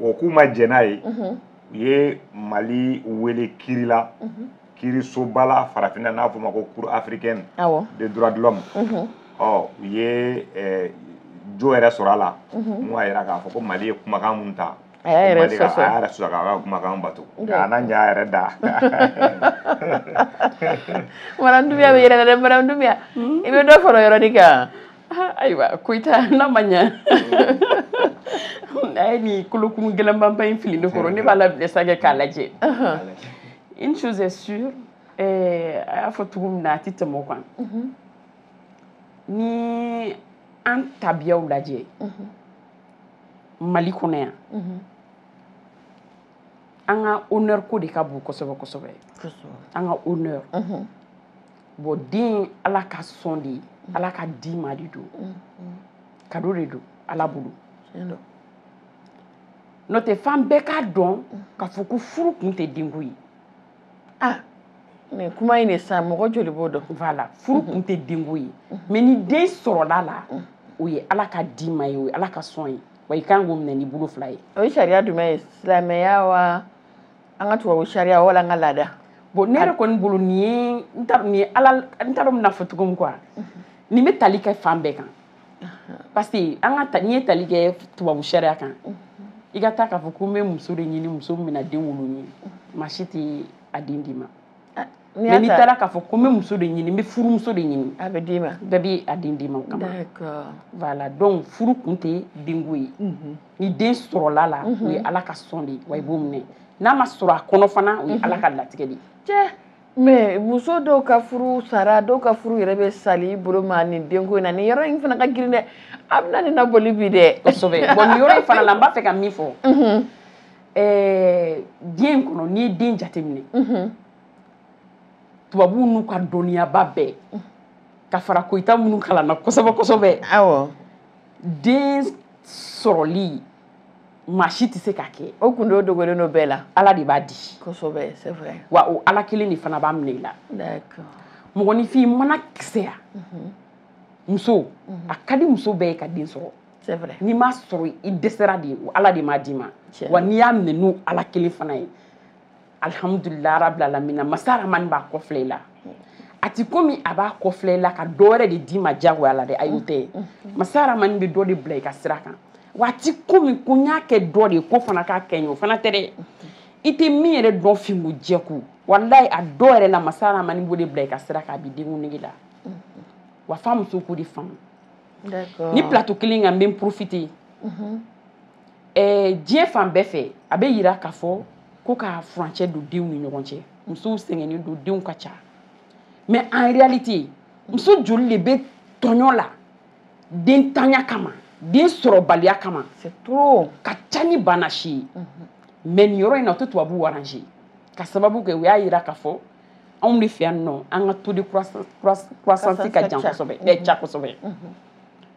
o k'u ma jɛn n'a ye u ye mali wele kiri la kirisoba la farafinna n'a fɔ ma ko cour africaine des droits de l'homme ɔ u ye jo yɛrɛ sɔrɔ a la mun y'a yira k'a fɔ ko mali ye kumakan mun ta a y'a yɛrɛ sɔsɔ a y'a yɛrɛ sɔsɔ k'a ka kumakan bato k'a na ɲa a yɛrɛ da madame Doumbia bɛ yɛlɛ dɛ madame Doumbia i bɛ dɔ fara o yɔrɔnin kan ayiwa Koyita n'a ma ɲa a ye nin kolokun gɛlɛnmanba in fili ne kɔrɔ ne b'a labila sa kɛ k'a lajɛ une chose est sûre eh, a y'a fɔ cogo min na a tɛ tɛmɛ o kan ni an tabiyaw lajɛ mali kɔnɔ yan an ka honneur ko de ka bon kosɛbɛ kosɛbɛ an ka honneur bon den ala ka sɔn de ye ala ka di ma de don cadeau de don ala bolo n'o tɛ f'an bɛɛ k'a dɔn k'a fɔ ko furu kun tɛ denko ye ah mais kuma in de sa mɔgɔ joli b'o dɔn voilà furu kun tɛ denko ye mais ni den sɔrɔla la o ye ala ka di ma ye o ye ala ka sɔn ye wa i kan k'o minɛ n'i bolo fila ye o ye sariya jumɛn ye silamɛya wa an ka tubabu sariya wala an ka laada bon ne yɛrɛ kɔni bolo nin ye n t'a dɔn nin ye ala n t'a dɔn n bɛn'a fɔ cogo min quoi nin bɛ tali kɛ fan bɛɛ kan parce que an ka n'i ye tali kɛ tubabu sariya kan i ka taa k'a fɔ ko n bɛ muso de ɲini muso min bɛna den wolo n ye maa si tɛ a den d'i ma mais n'i taara k'a fɔ ko n bɛ muso de ɲini n bɛ furumuso de ɲini a bɛ d'i ma bɛɛ bɛ a den d'i ma o kama voilà donc furu kun tɛ denko ye ni den sɔrɔla la o ye ala ka sɔn de ye wa i b'o minɛ n'a ma sɔrɔ a kɔnɔ fana o ye ala ka latigɛ de ye mais muso dɔw ka furu sara dɔw ka furu yɛrɛ bɛ sali bolo ma nin denko in na nin yɔrɔ in fana ka girin dɛ a bɛna ɲɛnabɔli bi dɛ kosɛbɛ bon nin yɔrɔ in fana la n b'a fɛ ka min fɔ mhm. eh, diɲɛ in kɔnɔ n'i ye den jateminɛ mhm. tubabuw n'u ka dɔnniyaba bɛɛ mhm. ka fara koyita minnu kalanna kosɛbɛ kosɛbɛ den sɔrɔli maa si tɛ se k'a kɛ o gundo dogolen don bɛɛ la ala de b'a di kosɛbɛ c'est vrai wa o ala kelen de fana b'a minɛ i la d'accord mɔgɔninfin mana kisɛya mhm. muso mhm. a ka di muso bɛɛ ye ka den sɔrɔ c'est vrai n'i m'a sɔrɔ i dɛsɛra de ala de m'a d'i ma wa n'i y'a minɛ n'o ala kelen fana ye alihamudulilahi rabili alamina masa rahamani b'a kɔfilɛ i la a ti komi a b'a kɔfilɛ i la ka dɔ wɛrɛ de d'i ma diyagoya la dɛ ayi o tɛ ye masa rahamani bɛ dɔ de bila i ka sira kan wa a ti komi ko n y'a kɛ dɔ de ye k'o fana k'a kɛ n ye o fana tɛ dɛ i tɛ min yɛrɛ dɔn finko jɛko walayi a dɔ yɛrɛ la masa rahamani b'o de bila i ka sira kan a b'i denko nege la wa f'a muso k'o de faamu nin plateau kelen kan n bɛ n profiter eh, diɲɛ fan bɛɛ fɛ a bɛ yira k'a fɔ ko ka furancɛ don denw ni ɲɔgɔn cɛ musow sɛgɛnnen don denw ka ca mais en réalité muso joli de bɛ tɔɲɔ la denntanya kama den sɔrɔbaliya kama c'est trop ka ca ni bana si ye mais nin yɔrɔ in na o tɛ tubabuw arranger ka sababu kɛ u y'a yira k'a fɔ anw de fɛ yan nɔ an ka taux de croissance ka jan kosɛbɛ ca kosɛbɛ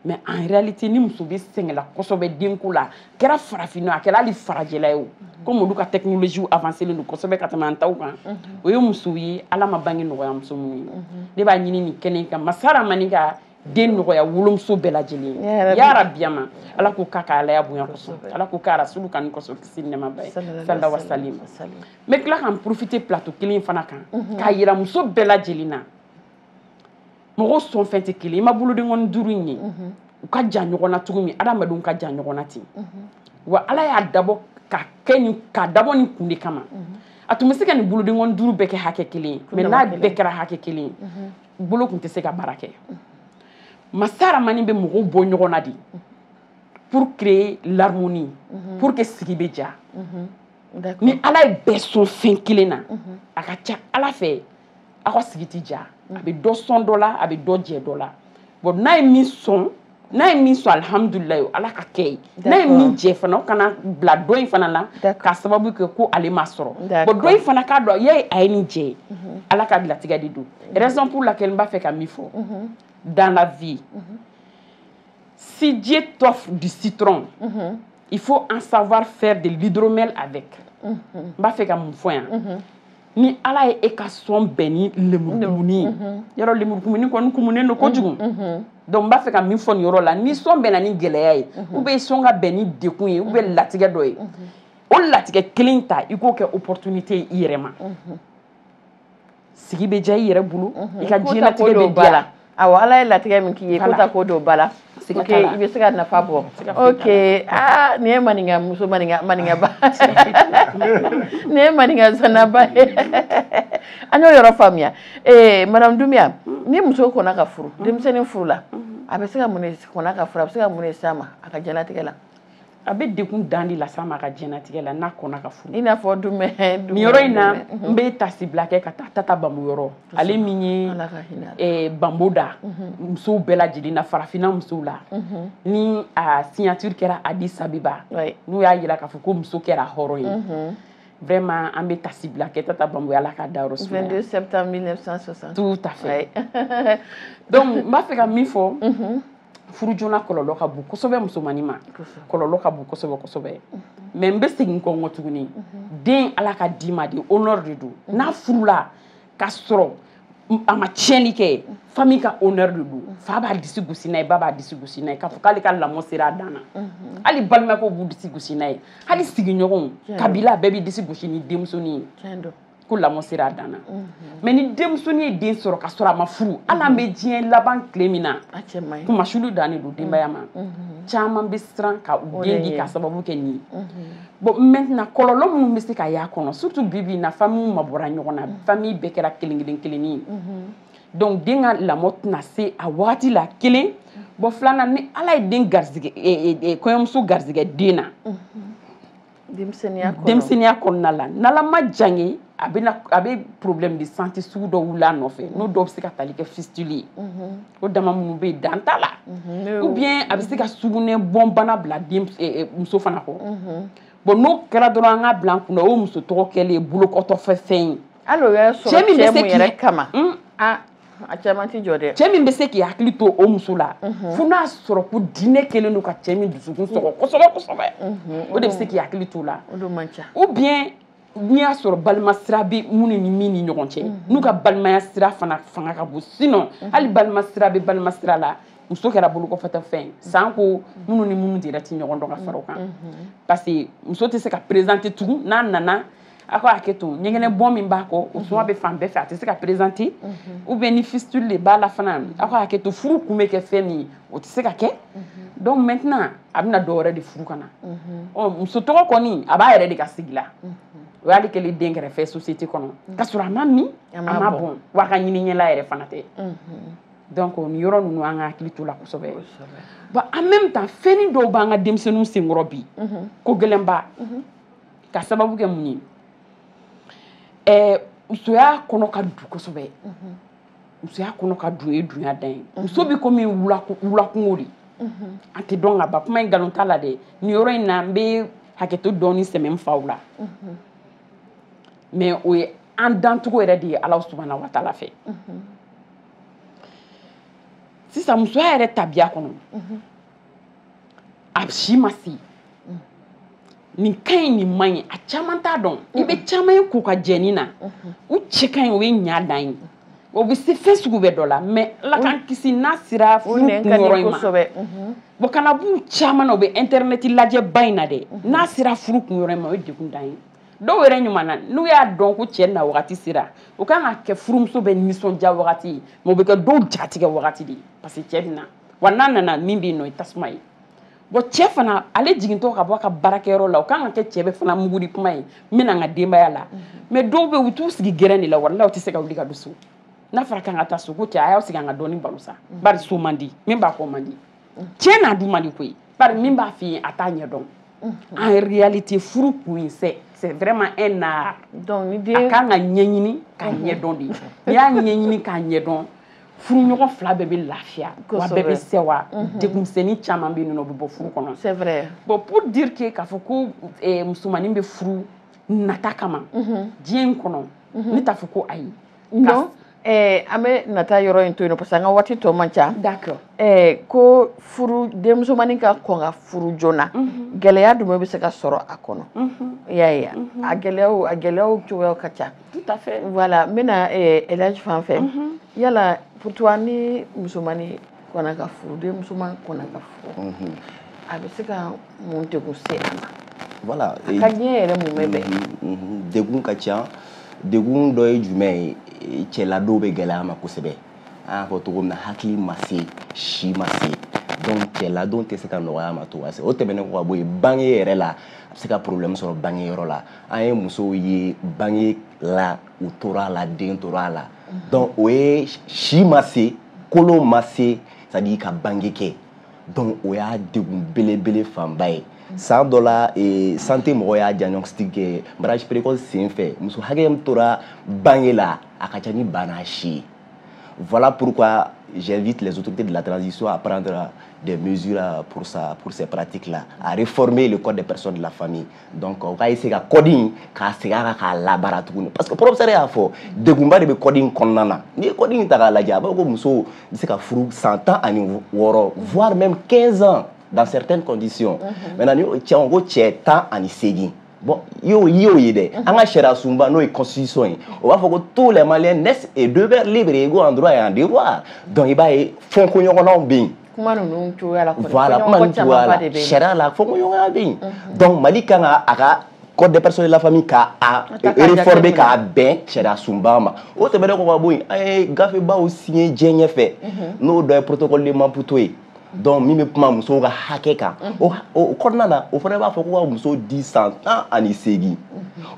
mais en réalité ni muso bɛ sɛgɛnla kosɛbɛ denko la kɛra farafinna a kɛra hali farajɛla ye o komi olu ka technologie avancélen don kosɛbɛ ka tɛmɛ an taw kan o ye musow ye ala ma bange nɔgɔya muso minnu ye ne b'a ɲini nin kɛnɛ in kan masa rahamani ka den nɔgɔya wolomuso bɛɛ lajɛlen ye ya rabi a ma ala k'o k'a ka alaya bonya kosɔn ala k'o k'a rasulu kanu kosɔn kisi nɛɛma b'a ye sallallahu wa salim n bɛ tila ka n profiter plateau kelen fana kan k'a yira muso bɛɛ lajɛlen na mɔgɔ sɔn fɛn tɛ kelen i ma bolodenkɔni duuru in ye mhm. u ka jan ɲɔgɔn na cogo min adamadenw ka jan ɲɔgɔn na ten mhm. wa ala y'a dabɔ ka kɛ ni k'a dabɔ nin kun de kama mhm. a tun bɛ se ka nin bolodenkɔni duuru bɛɛ kɛ hakɛ kelen ye mais n'a bɛɛ kɛra hakɛ kelen ye bolo tun tɛ se ka baara kɛ masa rahamani bɛ mɔgɔw bɔ ɲɔgɔn na de pour créer l'harmonie pour que sigi bɛ diya ni ala ye bɛɛ sɔn fɛn kelen na a ka ca ala fɛ aw ka sigi tɛ diya a bɛ dɔ sɔn dɔ la a bɛ dɔ jɛ dɔ la bon n'a ye min sɔn n'a ye min sɔn alihamudulilayi ala ka kɛ ye n'a ye min jɛ fana kana bila dɔ in fana na k'a sababu kɛ ko ale ma sɔrɔ bon dɔ in fana k'a dɔn ya a ye nin jɛ ye mhm. ala ka latigɛ de don raison pour laquelle n b'a fɛ ka min fɔ mhm. dans la vie mhm. si Dieu t'offre du citron il faut en savoir faire de l'hydromel avec n b'a fɛ ka mun fɔ yan ni ala ye e ka sɔn bɛn ni lemurukumunin ye mhm. yɔrɔ lemurukumunin kɔni kumunen don kojugu mhm, mhm. donc n b'a fɛ ka min fɔ nin yɔrɔ la ni sɔn bɛnna ni gɛlɛya ye ou bien sɔn ka bɛn ni dekun ye ou bien latigɛ dɔ ye o latigɛ kelen ta i k'o kɛ opportunité ye i yɛrɛ ma sigi bɛ diya i yɛrɛ bolo i ka diɲɛlatigɛ bɛ diya la awa ala ye latigɛ min k'i ye ko ta ko don ba la ok i bɛ se ka nafa bɔ ok aa nin ye maninka muso maninkaba nin ye maninka zanaba ye an y'o yɔrɔ faamuya ee madame Doumbia ni muso kɔnna ka furu denmisɛnnin furu la a bɛ se ka mun de kɔnna ka furu a bɛ se ka mun de s'a ma a ka diɲɛlatigɛ la a bɛ dekun dan de las'a ma a ka diɲɛnatigɛ la n'a kɔnna ka furu i n'a fɔ dumɛ nin yɔrɔ in na n bɛ tasibila kɛ ka taa tata bambo yɔrɔ ale min ye eh, bambo da mhm. musow bɛɛ lajɛlen na farafinna musow la mhm. ni a signature kɛra Addis Abeba n'u y'a yira k'a fɔ ko muso kɛra hɔrɔn ye mhm. vraiment an bɛ tasibila kɛ tata bambo ala k'a dayɔrɔ sumaya 22 septembre 1960 tout à fait donc n b'a fɛ ka min fɔ furu joona kɔlɔlɔ ka bon kosɛbɛ musomannin ma kɔlɔlɔ ka bon kosɛbɛ kosɛbɛ mais n bɛ segin kɔ n kɔ tuguni den ala ka d'i ma de honneur de don n'a furula ka sɔrɔ a ma tiɲɛni kɛ famille ka honneur de don fa b'a disi gosi n'a ye ba b'a disi gosi n'a ye k'a fɔ k'ale ka lamɔ sera a dan na hali balimakɛw b'u disi gosi n'a ye hali sigiɲɔgɔn kabila bɛɛ b'i disi gosi ni denmusonin ye ko lamɔ sera a dan na mais ni denmusonin ye den sɔrɔ ka sɔrɔ a ma furu hali an bɛ diɲɛ laban tile min na kunmasuuli dan de don denbaya maa caman bɛ siran ka u den di k'a sababu kɛ nin ye bon maintenant kɔlɔlɔ minnu bɛ se ka y'a kɔnɔ surtout bi bi in na famille ma bɔra ɲɔgɔn na famille bɛɛ kɛra kelen kelen kelenni ye donc den ka lamɔ tɛna se a wagati la kelen bon filanan ni ala ye den garisɛgɛ kɔɲɔmuso garisɛgɛ den na denmisɛnninya kɔnɔ denmisɛnninya kɔnɔna la n'ala ma jan ye a bɛ a bɛ problème de santé sugu dɔ wuli a nɔfɛ n'o dɔw bɛ se ka tali kɛ fistule ye mhm. o dama minnu bɛ yen dan t'a la mhm. ou bien a bɛ se ka sugunɛ bɔn bana bila den eh, eh, muso fana kɔ mhm. bon n'o kɛra dɔrɔn an k'a bila an kun na o ye muso tɔgɔ kɛlen ye bolokɔtɔfɛfɛn ye hali o y'a sɔrɔ cɛ min bɛ se k'i yɛrɛ kama hmm? ah. a caman ti jɔ dɛ cɛ min bɛ se k'i hakili to o muso la mhm. fo n'a sɔrɔ ko diinɛ kɛlen don ka cɛ min dusukun mhm. sɔgɔ kosɛbɛ kosɛbɛ mhm. o de bɛ se k'i hakili to la ou bien n'i y'a sɔrɔ balima sira bɛ minnu ni min ni ɲɔgɔn cɛ n'u ka balimaya sira fana fanga ka bon sinon hali balima sira bɛ balima sira la muso kɛra bolokɔfɛtɔ fɛn ye sanko minnu ni minnu yɛrɛ ti ɲɔgɔn dɔn ka fara o kan parce que muso tɛ se ka présenter tugun n'a nana a ka hakɛ to ɲɛgɛnɛ bɔn min b'a kɔ o suma bɛ fan bɛɛ fɛ a tɛ se ka présenter ou bien ni fistule de b'a la fana a ka hakɛ to furu kun bɛ kɛ fɛn min ye o tɛ se ka kɛ donc maintenant a bɛna dɔ wɛrɛ de furu ka na ɔ muso tɔgɔ kɔni a b'a yɛrɛ de ka sigi la o y'ale kɛlen den kɛrɛfɛ société kɔnɔ ka sɔrɔ a ma min a ma bɔn wa a ka ɲini ɲɛla yɛrɛ fana tɛ donc nin yɔrɔ ninnu an ka hakili to la kosɛbɛ bon en même temps fɛnnin dɔw b'an ka denmisɛnninw senkɔrɔ bi ko gɛlɛnba ka sababu kɛ mun ye ɛɛ musoya kɔnɔ ka dun kosɛbɛ musoya kɔnɔ ka dun ye dunya dan ye muso bɛ komi wulakungo de an tɛ dɔn ka ban kuma in nkalon t'a la dɛ nin yɔrɔ in na n bɛ hakɛto dɔɔni sɛmɛ n faw la mais o ye an dancogo yɛrɛ de ye ala subahana wa taala fɛ sisan musoya yɛrɛ tabiya kɔnɔ a si ma se nin ka ɲi nin man ɲi a caman t'a dɔn i bɛ caman ye k'u ka jɛni na u cɛ ka ɲi o ye ɲa dan ye o bɛ se fɛn sugu bɛɛ dɔ la mais ala k'an kisi n'a sera furu kunyɔrɔ in ma bon kana b'u caman na u bɛ internet lajɛba in na dɛ n'a sera furu kunyɔrɔ in ma o ye degun dan ye dɔw yɛrɛ ɲuman na n'u y'a dɔn ko cɛ na wagati sera o kan ka kɛ furumuso bɛɛ nisɔndiya wagati ye mais o bɛ kɛ dɔw jatigɛ wagati de ye parce que cɛ bɛ na wa n'a nana min bɛ yen nɔ o ye tasuma ye bon cɛ fana ale jigintɔ ka bɔ a ka baarakɛyɔrɔ la o kan ka kɛ cɛ bɛɛ fana mugudi tuma ye n bɛna n ka denbaya la mais dɔw bɛ yen u t'u sigi gɛrɛn de la walahi u tɛ se ka wuli ka don so n'a fɔra k'an ka taa so ko cɛ a y'aw sigi an ka dɔɔni baro sa bari so man di min b'a fɔ man di cɛ n'a du man di koyi bari min b'a f'i ye a t'a ɲɛ dɔn en réalité furu kun ye c'est c'est vraiment un art donc a kan ka ɲɛɲini k'a ɲɛdɔn de n'i y'a ɲɛɲini k'a ɲɛdɔn furuɲɔgɔn fila bɛɛ bɛ lafiya wa bɛɛ bɛ sewa mhm. degunmisɛnnin caman bɛ yen nɔ o bɛ bɔ furu kɔnɔ c'est vrai bon pour dire que k'a fɔ ko eh, musomanin bɛ furu nata kama mhm. diɲɛ in kɔnɔ mhm. ne t'a fɔ ko ayi non eh, an bɛ nata yɔrɔ in to yen nɔ parce que an ka waati tɔ man ca d'accord eh, ko furu denmusomanin ka kɔn ka furu joona gɛlɛya jumɛn bɛ se ka sɔrɔ a kɔnɔ i y'a ye a gɛlɛyaw a gɛlɛyaw cogoyaw ka ca Voilà n bɛna elaji fan fɛ yala pour toi ni musomannin kɔnna ka furu denmusoman kɔnna ka furu a bɛ se ka mun degun se a ma voilà ka diɲɛ yɛrɛ mun bɛ bɛn degun ka ca degun dɔ ye jumɛn ye cɛladon bɛ gɛlɛya a ma kosɛbɛ an y'a fɔ cogo min na hakili ma se si ma se donc cɛladon tɛ se ka nɔgɔya a ma cogoya si o tɛmɛnen kɔ ka bɔ yen bange yɛrɛ la a bɛ se ka problème sɔrɔ bange yɔrɔ la an ye musow ye bange la u tora a la den tora a la donc o ye si ma se kolon ma se c'est à dire ka bange kɛ donc o y'a degun belebele fanba ye san dɔ la e, santé mɔgɔw y'a diagnostic kɛ mariage précoce sen fɛ muso hakɛ min tora bange la a ka ca ni bana si ye voilà pourquoi j'invite les autorités de la transition à prendre des mesures pour, ça, pour ces pratiques-là, à réformer le code des personnes de la famille, donc o ka essayer ka code in k'a segin a kan k'a labaara tuguni parce que professeur y'a fɔ degunba de bɛ code in kɔnɔna na n'i ye code in ta k'a lajɛ a b'a fɔ ko muso bɛ se ka furu san tan ani wɔɔrɔ voire même 15 ans dans certaines conditions mhm. maintenant ni cɛ don ko cɛ tan ani seegin bon i y'o i y'o ye dɛ mhm. an ka sariya sunba n'o ye constitution ye o b'a fɔ ko tous les maliens naissent et demeurent libres égaux en droit et en devoir donc i b'a ye fɔkɔɲɔgɔnnaw bɛ yen kuma ninnu cogoya la kɔni voilà kuma ninnu cogoya la sariya la fɔkɔɲɔgɔnya bɛ yen donc mali kan ka a ka code des personnes de la famille k'a réformer k'a bɛn sariya sunba ma o tɛmɛnen kɔ ka bɔ yen an ye gafebaw signé diɲɛ ɲɛfɛ n'o dɔ ye protocole de maputo ye donc min bɛ kuma musow ka hakɛ kan o kɔnɔna na o fana b'a fɔ ko ka muso di san tan ani seegin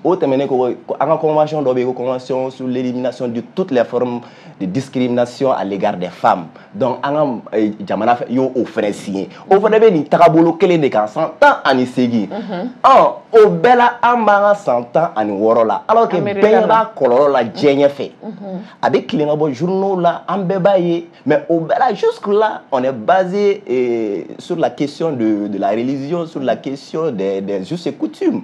o tɛmɛnen kɔ an ka convention dɔ bɛ yen ko convention sur l'élimination de toutes les formes de discrimination à l'égard des femmes donc an ka eh, jamana y'o o fɛnɛ signé o fɛnɛ bɛ nin tagabolo kelen de kan san tan ani seegin mhm. ɔ o bɛɛ la an b'an ka san tan ani wɔɔrɔ la alors que bɛɛ b'a kɔlɔlɔ la diɲɛ ɲɛfɛ mhm. a bɛ tilen ka bɔ journaux la an bɛɛ b'a ye mais o bɛɛ la jusque là on est basé eh, sur la question de de la religion sur la question des des us et coutumes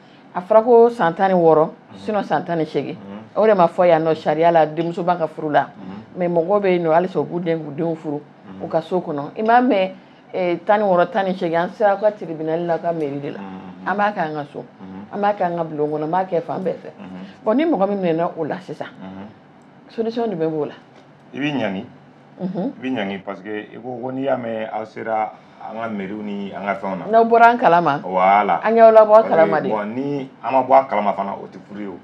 a fɔra ko san tan ni wɔɔrɔ sinon san tan ni seegin o de ma fɔ yan nɔ sariya la denmuso b'a ka furu la mais mɔgɔ bɛ yen nɔ halisa u b'u den k'u denw furu u ka so kɔnɔ i m'a mɛn eh, tan ni wɔɔrɔ tan ni seegin an sera ka tribunal la ka mairie de la an b'a kɛ an ka so an b'a kɛ an ka bulon kɔnɔ an b'a kɛ fan bɛɛ fɛ bon ni mɔgɔ min minɛna o la sisan solution jumɛn b'o la i bɛ ɲangi Mhm. i bɛ ɲangi parce que i ko ko n'i y'a mɛn aw sera an ka mairie ni an ka fɛnw na. n'aw bɔra a kalama. voilà an y'aw labɔ a kalama dɛ. bon ni an ma bɔ a kalama fana o tɛ furu ye o.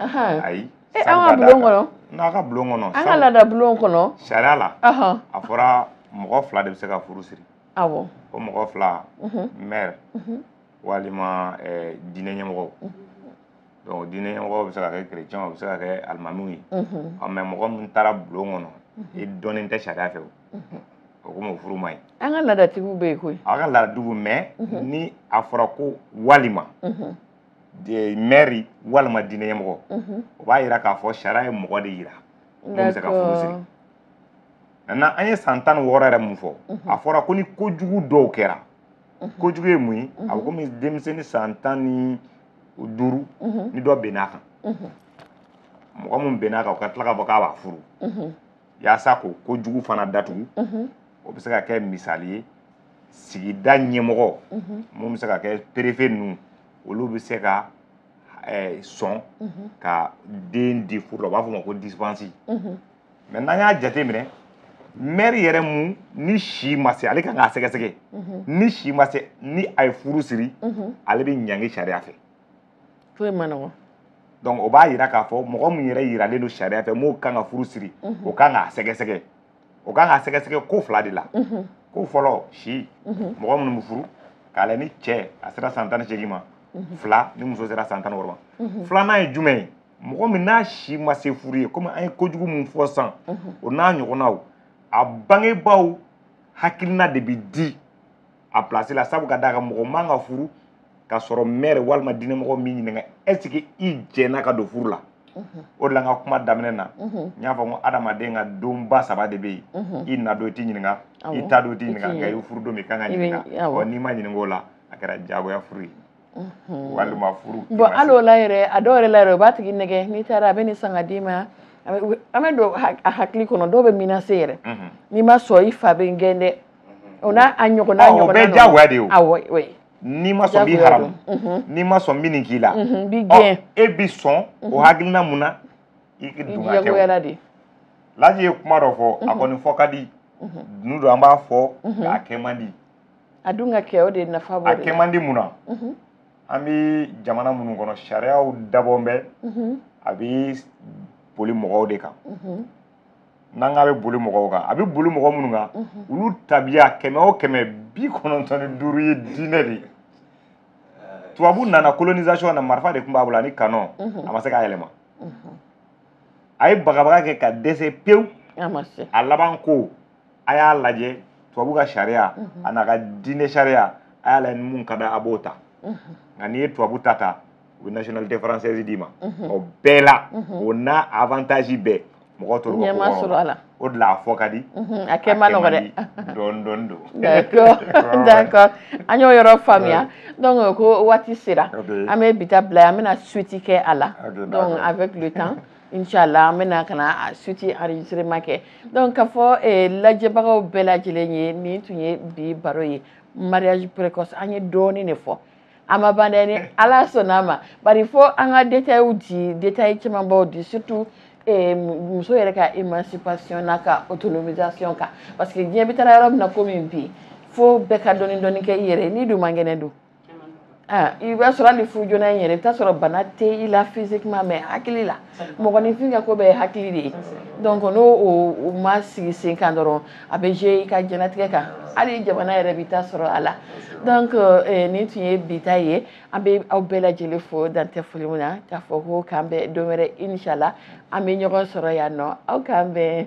ayi. e an ka bulon kɔnɔ. n'aw ka bulon kɔnɔ. an ka laada bulon kɔnɔ. sariya la. a fɔra mɔgɔ fila de bɛ se ka furu siri. awɔ. o mɔgɔ fila. Mhm. maire. Mhm. walima ɛɛ diinɛ ɲɛmɔgɔw. donc diinɛ ɲɛmɔgɔ bɛ se ka kɛ kerecɛn o bɛ se ka kɛ alimamiw ye mɛ mɔgɔ min taara bulon kɔnɔ i dɔnnen tɛ sariya fɛ o komi o furu man ɲi an ka laadatigiw bɛ yen koyi an ka laadatigiw mɛ ni a fɔra ko walima mɛri walima diinɛ ɲɛmɔgɔ o b'a jira k'a fɔ sariya ye mɔgɔ de jira mun bɛ se ka furu siri maintenant an ye san tan ni wɔɔrɔ yɛrɛ mun fɔ a fɔra ko ni kojugu dɔw kɛra kojugu ye mun ye a bɛ komi denmisɛnnin san tan ni duuru ni dɔ binna a kan mɔgɔ min binna a kan o ka tila k'a fɔ k'a b'a furu yaasa k'o kojugu fana datugu o bɛ se ka kɛ misali ye sigida ɲɛmɔgɔ mun bɛ se ka kɛ perefe ninnu olu bɛ se ka sɔn ka den di furu la u b'a fɔ o ma ko disipansi mɛ n'an y'a jate minɛ mɛri yɛrɛ mu ni si ma se ale kan k'a sɛgɛsɛgɛ mhm. ni si ma se ni a ye furu siri mhm. ale bɛ ɲangi sariya fɛ koyi a man nɔgɔn donc o b'a yira k'a fɔ mɔgɔ min yɛrɛ yiralen don sariya fɛ min kan ka furu siri mhm. o kan k'a sɛgɛsɛgɛ o kan k'a sɛgɛsɛgɛ ko fila de la ko fɔlɔ si mɔgɔ minnu bɛ furu k'a lajɛ ni cɛ a sera san tan ni seegin ma fila ni muso sera san tan ni wɔɔrɔ ma filanan ye jumɛn ye mɔgɔ min n'a si ma se furu ye komi an ye kojugu min fɔ sisan o n'a ɲɔgɔnnaw a bangebaaw hakilina de bɛ di a pilasi la sabu ka d'a kan mɔgɔ man ka furu ka sɔrɔ mɛri walima diinɛmɔgɔ m'i ɲininka ɛsike i jɛnna ka don furu la o de la n ka kuma daminɛ na n y'a fɔ ko adamaden ka donba saba de bɛ yen i na don i tɛ ɲininka i taa don i tɛ ɲininka nka i furu don min i kan ka ɲininka n'i ma ɲininka o la a kɛra diyagoya furu ye walima furu bɔn hali o la yɛrɛ a dɔw yɛrɛ la yɛrɛ o b'a tigi nɛgɛ n'i taara a bɛ nin san ka d'i ma an bɛ don a hakili kɔnɔ dɔw bɛ menacer yɛrɛ n'i ma sɔn i fa bɛ n gɛn dɛ o n'a ɲɔgɔnna o bɛɛ jagoya de ye o n'i ma sɔn n b'i haramu n'i ma sɔn n bɛ nin k'i la n b'i gɛn e bi sɔn o hakilina mun na i dun ka kɛ de laji ye kuma dɔ fɔ a kɔni fɔ ka di don o don an b'a fɔ k'a kɛ man di a dun ka kɛ o de nafa b'o de la a kɛ man di mun na mhm. an bɛ jamana minnu kɔnɔ sariyaw dabɔn bɛ mhm. a bɛ boli mɔgɔw de kan mhm. n'an k'a bɛ boli mɔgɔw kan a bɛ boli mɔgɔ minnu kan olu tabiya kɛmɛ o kɛmɛ bi kɔnɔntɔn ni duuru ye diinɛ de ye tubabu nana colonisation na marifa de tun b'a bolo ani kanon a ma se k'a yɛlɛma a ye bagabaga kɛ ka dɛsɛ pewu a laban ko a y'a lajɛ tubabu ka sariya mhm. a n'a ka diinɛ sariya a y'a lajɛ ni mun ka di a b'o ta mhm. nka n'i ye tubabu ta ta u bɛ nationalité française d'i ma mhm. o bɛɛ la o n'a avantage bɛɛ mɔgɔ tɔw bɛ ko sɔrɔ a la o de la a fɔ ka di a kɛ man nɔgɔ dɛ dɔɔni dɔɔni don d'accord d'accord an y'o yɔrɔ faamuya donc ko waati sera an bɛ bi ta bila an bɛna suite kɛ a la donc avec le temps inshallah an bɛna ka na a suite enregistrement kɛ donc k'a fɔ eh, lajɛbagaw bɛɛ lajɛlen ye nin tun ye bi baro ye mariage précoce an ye dɔɔnin de fɔ a ma ban dɛ ni ala sɔnna a ma bari fo an ka détailw di détail camanbaw di surtout eh, mu- muso yɛrɛ ka émancipation n'a ka autonomisation kan parce que diɲɛ bɛ taara yɔrɔ min na komi bi fo bɛɛ ka dɔɔnin dɔɔnin kɛ i yɛrɛ ye n'i dun man kɛnɛ dun Ah, i b'a sɔrɔ hali furu joona in yɛrɛ i bɛ t'a sɔrɔ bana tɛ i la physiquement mais hakili la mɔgɔninfin ka ko bɛɛ ye hakili de ye donc n'o o ma sigi sen kan dɔrɔn a bɛ jouer i ka diɲɛlatigɛ kan hali jamana yɛrɛ b'i ta sɔrɔ a la donc eh, nin tun ye bi ta ye an bɛ aw bɛɛ lajɛlen fo dan tɛ foli min na k'a fɔ ko k'an bɛn don wɛrɛ inchallah an bɛ ɲɔgɔn sɔrɔ yan nɔ aw k'an bɛn